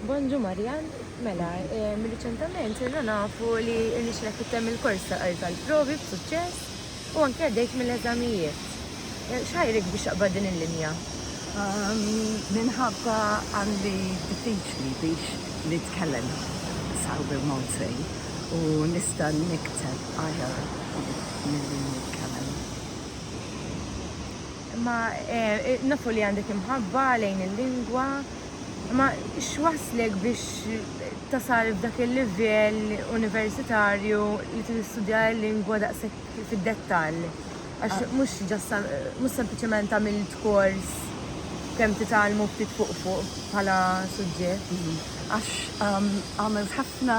Bonġu Marjan, mela, riċentament sirna nafu li rnexxilek tittemm il-kors tal-provi b'suċċess u anke għaddejt mill-eżamijiet. X'ħajrek biex taqbad din il-linja? Minħabba għandi diffiċli biex nitkellem sew bil-Malti u nista' nikteb aħjar milli nitkellem. Imma nafu li għandek imħabba lejn il-lingwa, imma x'wasslek biex tasal f'dak il-livell universitarju li trid tistudja l-lingwa daqshekk fid-dettall? Għax mhux ġast mhux sempliċement għamilt kors kemm titgħallmu ftit fuq fuq bħala suġġett. Għax għamilt ħafna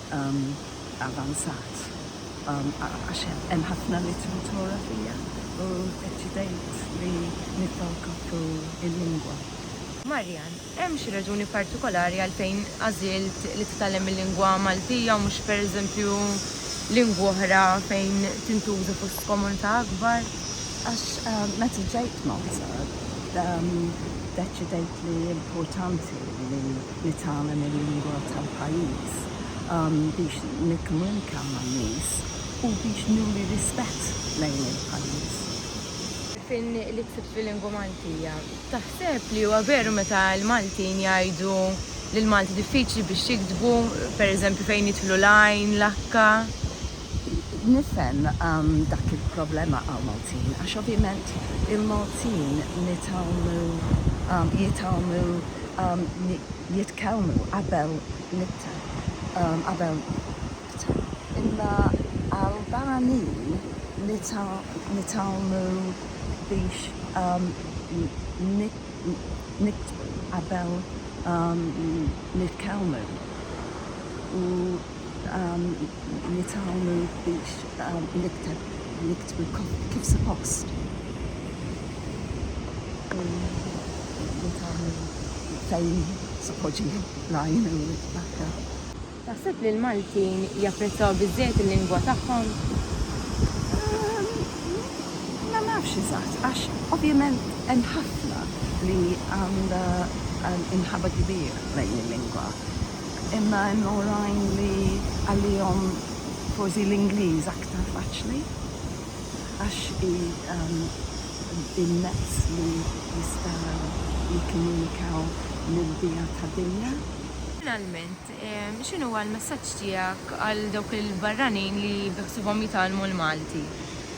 avvanzat għax hemm ħafna litteratura fija u ddeċidejt li nibqgħu nkopru l-lingwa. Marian, Hemm xi raġuni partikolari għalfejn għażilt li titgħallem il-lingwa Maltija u mhux pereżempju lingwa oħra fejn tintuża fost komunità akbar? Għax meta ġejt Malta ddeċidejt li importanti li nitgħallem il-lingwa tal-pajjiż biex nikkomunika man-nies u biex nuri rispett lejn il-pajjiż. Fin li ksibt fil-lingwa Maltija. Taħseb li huwa veru meta l-Maltin jgħidu li l-Malti diffiċli biex jiktbu, pereżempju fejn jidħlu l-għajn, l-akka, Nifhem dak il-problema għal Maltin għax ovvjament il-Maltin nitgħallmu jitgħallmu jitkellmu qabel nibta' qabel nibta' imma għal barranin nitgħallmu biex nibta' qabel nitkellmu u Nitgħallmu biex nikteb niktbu kif suppost. Nitgħallmu fejn se poġġi l-għajn u l-aktar. Taħseb li l-Maltin japprezzaw biżżejjed il-lingwa tagħhom? Ma nafx eżatt għax ovvjament hemm ħafna li għandha imħabba kbira lejn il-lingwa. imma hemm oħrajn li għalihom forsi l-Ingliż aktar faċli għax hi l-mezz li jistgħu jikkomunikaw mill-biha tad-dinja. Finalment, x'inhuwa l-messaġġ tiegħek għal dawk il-barranin li beħsiebhom jitgħallmu l-Malti?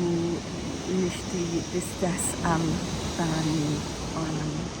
u nixti l-istess għal Dani Ornament.